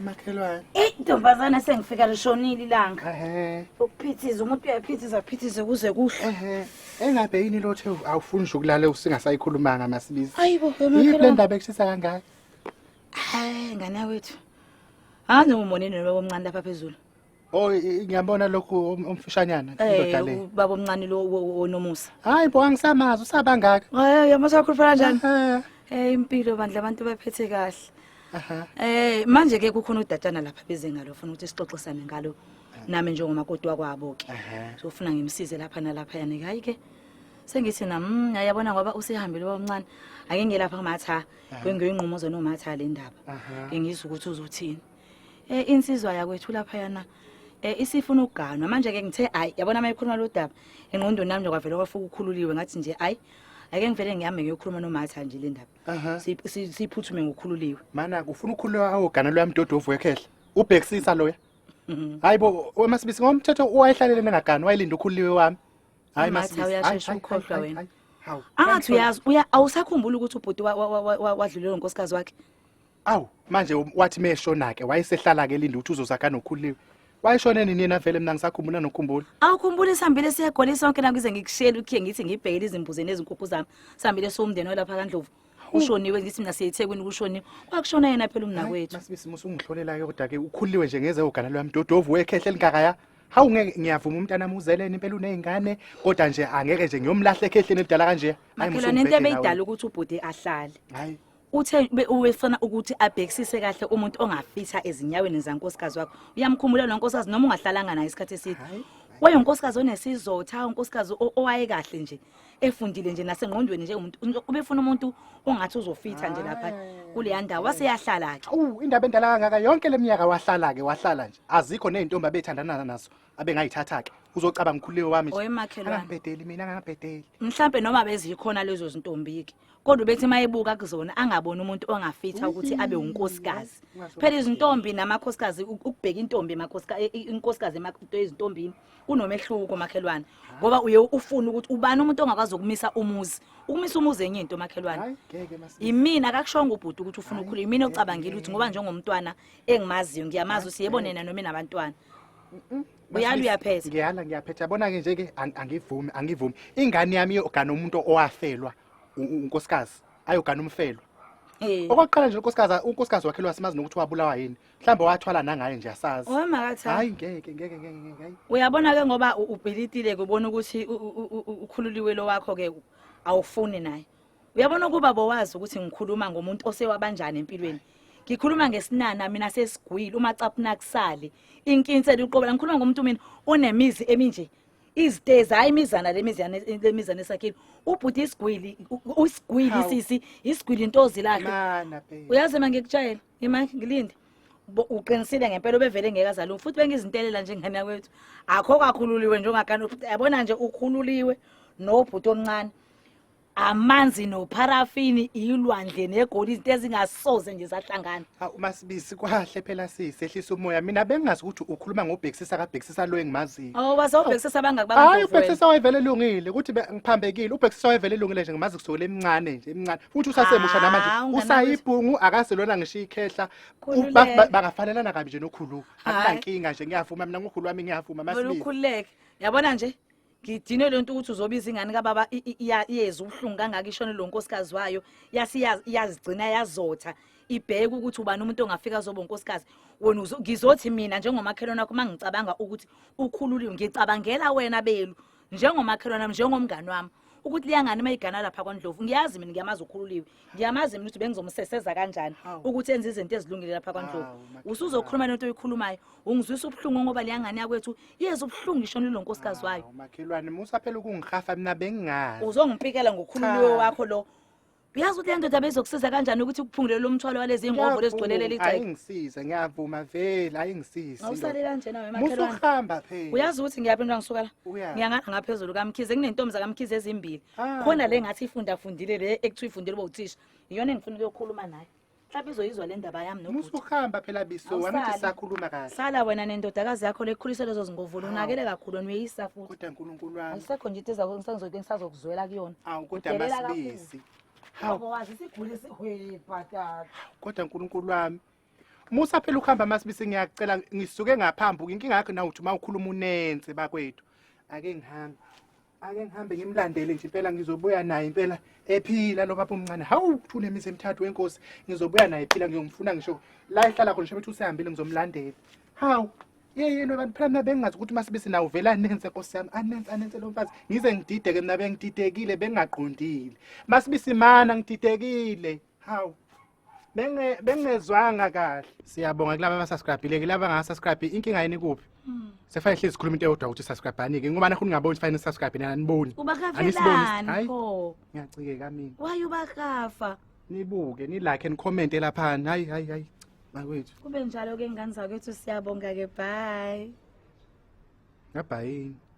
makhelwane eyi ntombazane sengifika lishonile ilanga ukuphithiza umuntu uyaphithiza aphithize kuze kuhle engabe yini lothe awufuni nje ukulala usingasayikhulumanga masilisa ayibo yiphi le ndaba ekushisa kangaka hayi ngane wethu angiwumonini lobo omncane lapha phezulu Oh i- ngiyabona lokhu um- umfishanyana indoda le. Eh baba omncane lo wo- wo- wonomusa. Hayi bo angisamazi usabangaka. Eh yamaza wakhuluphala kanjani? Aha. Eh impilo bandla abantu baphethe kahle. Aha. Eh manje ke kukhona udatshana lapha beze ngalo ufuna ukuthi sixoxisane ngalo nami njengomakoti wakwabo ke. Aha. So ufuna ngimsize lapha nalapha yani hayi ke. Sengithi na mm yayabona ngoba usehambile omncane. Ake ngelapha kumatha. Kwengiyoyinqumo zona umatha le ndaba. Aha. Ngiyizwa ukuthi uzothini. Eh insizwa yakwethu lapha yana eh isifuna ukuganwa manje ke ngithe hayi yabona uma ikhuluma lo daba engqondweni nami kwavela kwafuka ukhululiwe ngathi nje hayi ake ngivele ngihambe ngiyokhuluma nomatha nje le ndaba siyiphuthume ngokhululiwe mana ufuna ukukhululwa hawo gana loya mdodo ovuyekhehla ubhekisisa loya mhm. hayi bo masibisi ngomthetho wayehlalele nengagani wayelinda ukhululiwe wami hayi masibisi uyashesha ukhohlwa wena angathi uyazi awusakhumbula ukuthi ubhuti wadlulelwa unkosikazi wakhe awu manje wathi meshona-ke wayesehlala-ke elinde ukuthi uzozakha nokhuliwe wayeshone nini yena vele mina ngisakhumbula nokhumbula awukhumbula isihambile siye egoli sonke la ngize ngikushiyele ukhiye ngithi ngibhekele izimbuzi nezinkukhu zami sihambile siwumndeni olapha kandlovu ushoniwe ngithi mina siyethekwini kushoniwe kwakushona yena phela umnakwethu masibisi musa ungihlolelayo kodwa-ke ukhuliwe nje ngeze ogana lwami dodovu wekhehle elingakaya hawu ngeke ngiyavuma umntanami uzeleni impela uney'ngane kodwa nje angeke nje ngiyomlahla ekhehleni elidala kanje makhelwane into ebeyidala ukuthi ubhuti ahlale hayi Uthe be- ubefuna ukuthi abhekisise kahle umuntu ongafitha ezinyaweni zankosikazi wakho. Uyamkhumbula lo nkosikazi noma ungahlalanga naye isikhathi eside. Wayengunkosikazi onesizotha, unkosikazi o- owayekahle nje, efundile nje nasengqondweni nje umuntu. Umuntu- Ubefuna umuntu ongathi uzofitha nje lapha kuleya ndawo. Waseyahlala ke. Awu indaba endala kangaka yonke leminyaka wahlala ke wahlala nje. Azikho nezintombi abethandana nazo abengayithatha ke. Uzocabanga ukhulile wami nje. Owemakhelwane. Angabhedeli mina angabhedeli. Mhlambe noma bezikhona lezo zintombi ke. kodwa ubethi uma ebuka kuzona angaboni umuntu ongafitha ukuthi abe unkosikazi phela izintombi namakhosikazi u- ukubheka intombi emakhosika- i- i- inkosikazi emakhosikazi ezintombini kunomehluko makhelwane ngoba uye ufuna ukuthi ubani umuntu ongakwazi ukumisa umuzi ukumisa umuzi enye into makhelwane Hayi, ngeke masisi. yimina akakushongo ubhuti ukuthi ufuna ukukhuluma yimina ocabangile ukuthi ngoba njengomntwana engimaziyo ngiyamazi ukuthi yebo nena noma inabantwana uyala uyaphetha ngiyala ngiyaphetha yabona-ke nje-ke ang- angivumi angivumi ingane yami iyogana umuntu owafelwa unkosikazi ayogana umfelo Eh. okokuqala nje unkosikazi unkosikazi wakhe lwasimazi nokuthi wabulawa yini mhlawumbe wathwala nangaye nje asazi Owe makatha. hayi ngeke ngeke ngeke ngeke hayi Uyabona ke ngoba u- ubhilitile kubona ukuthi u- u- u- u- ukhululiwe lo wakho ke awufuni naye. Uyabona ukuba bowazi ukuthi ngikhuluma ngomuntu osewabanjani empilweni. Ngikhuluma ngesinana mina sesigwile uma capuna kusale. Inkinse liqobela ngikhuluma ngomuntu mina onemizi eminje. izitezi hayi imizana lemizana lemizana esakhile ubhuti isigwili usigwili Hawu. sisi isigwili intozi lakhe Mana babe. uyazi ma ngikutshayela ima ngilinde Bo- uqinisile ngempela obevele ngeke azalungi futhi bengizintelela nje ngane yakwethu akho kakhululiwe njengakani yabona nje ukhululiwe nobhuti omncane amanzi nopharafini ilwandle negoli izinto ezingasoze nje zahlangana Hawu umasibisi kwahle phela sisi ehlisa umoya mina bengazi ukuthi ukhuluma ngobhekisisa kabhekisisa lo engimaziyo. awu bazobhekisisa abangaki Hayi bakuzovela ubhekisisa wayevele elungile ukuthi be- ngiphambekile ubhekisisa wayevele elungile nje ngimazi kusukela emncane nje emncane futhi usasemusha Ah, namanje unganakho- usayibhungu akaselona ngisho ikhehla Khululeka. Ba- ba- bangafanelana kabi nje nokhulu Hhayi. akunankinga nje ngiyavuma mina ngokhulu wami ngiyavuma Wena masibisi ukhululeke yabona nje ngidinwe le nto ukuthi uzobiza ingane kababa iyeza ubuhlungu kangaka ishone lo nkosikazi wayo iyazigcina yazotha ibheke ukuthi ubani umuntu ongafika azoba unkosikazi wena ngizothi mina njengomakhelwane wakho uma ngicabanga ukuthi ukhululiwe ngicabangela wena belu njengomakhelwane wami njengomngane wami ukuthi liyangani uma igana lapha kwandlovu ngiyazi mina ngiyamazi ukhululiwe ngiyamazi mina ukuthi bengizomseseza kanjani ukuthi enze izinto ezilungile lapha kwaNdlovu usuzokhuluma lento oyikhulumayo ungizwisa ubuhlungu ngoba leyangane yakwethu yeza ubuhlungu isho nilo nkosikazi wayo makhelwane musa phela ukungihafa mina bengingazi uzongipikela ngokhululiwe wakho lo uyazi ukuthi le ndoda bezokusiza kanjani ukuthi kuphungulele lo mthwalo walezi ngovo lezigcwelele ligceke ayingisize ngiyavuma vele ayingisize awusale kanjena wena makhelwane musuhamba phela uyazi ukuthi ngiyaphi into angisukala ngiyangana ngaphezulu kamkhize kunentombi zakamkhize ezimbili Ah. khona le ngathi ifunda fundile le ekuthiwa ifundile uba uthisha iyona engifuna ukuyokhuluma nayo mhlawumbe izoyizwa le ndaba yami nokuthi musuhamba phela biso Awusali. wami ukuthi sakhuluma kahle sala wena nendodakazi yakho le ekhulise lezo zingovolo Hawu. unakele kakhulu wena uyeyisa futhi kodwa nkulunkulu wami ayisekho nje into eza- ngisangizoke ngisazokuzwela kuyona awu kodwa Udelela kakhulu. masibisi hawu wazi isiguli esihwebhatata kodwa nkulunkulu wami musa phela ukuhamba masibisi ngiyakucela ngisuke ngaphambuka inkinga yakho nawuthi uma ukhuluma unense bakwethu ake ngihambe ake ngihambe ngimlandele nje impela ngizobuya naye impela ephila lo baba omncane hawu kuthule imizi emithathu wenkosi ngizobuya naye ephila ngiyomfuna ngisho la ehlala khona ngisho usehambile ngizomlandela hawu yeyeni abantu phela mina bengingazi ukuthi uma sibe sinawo vela anense nkosi yami anense anense lo mfazi ngize ngidideke mina bengididekile bengaqondile uma sibe simana ngididekile hawu benge bengezwanga kahle siyabonga kulabo abasubscribile kulabo abangasubscribe inkinga yini kuphi hmm. sefanele hlezi sikhuluma into eyodwa ukuthi subscribe ani ke ngoba nakho ningaboni ukuthi fanele subscribe nina aniboni aniboni pho ngiyacikeka mina waye ubakafa nibuke ni like and comment lapha hayi hayi hayi makwethu kube njalo ke ngane zakwethu siyabonga ke bye ngabhayini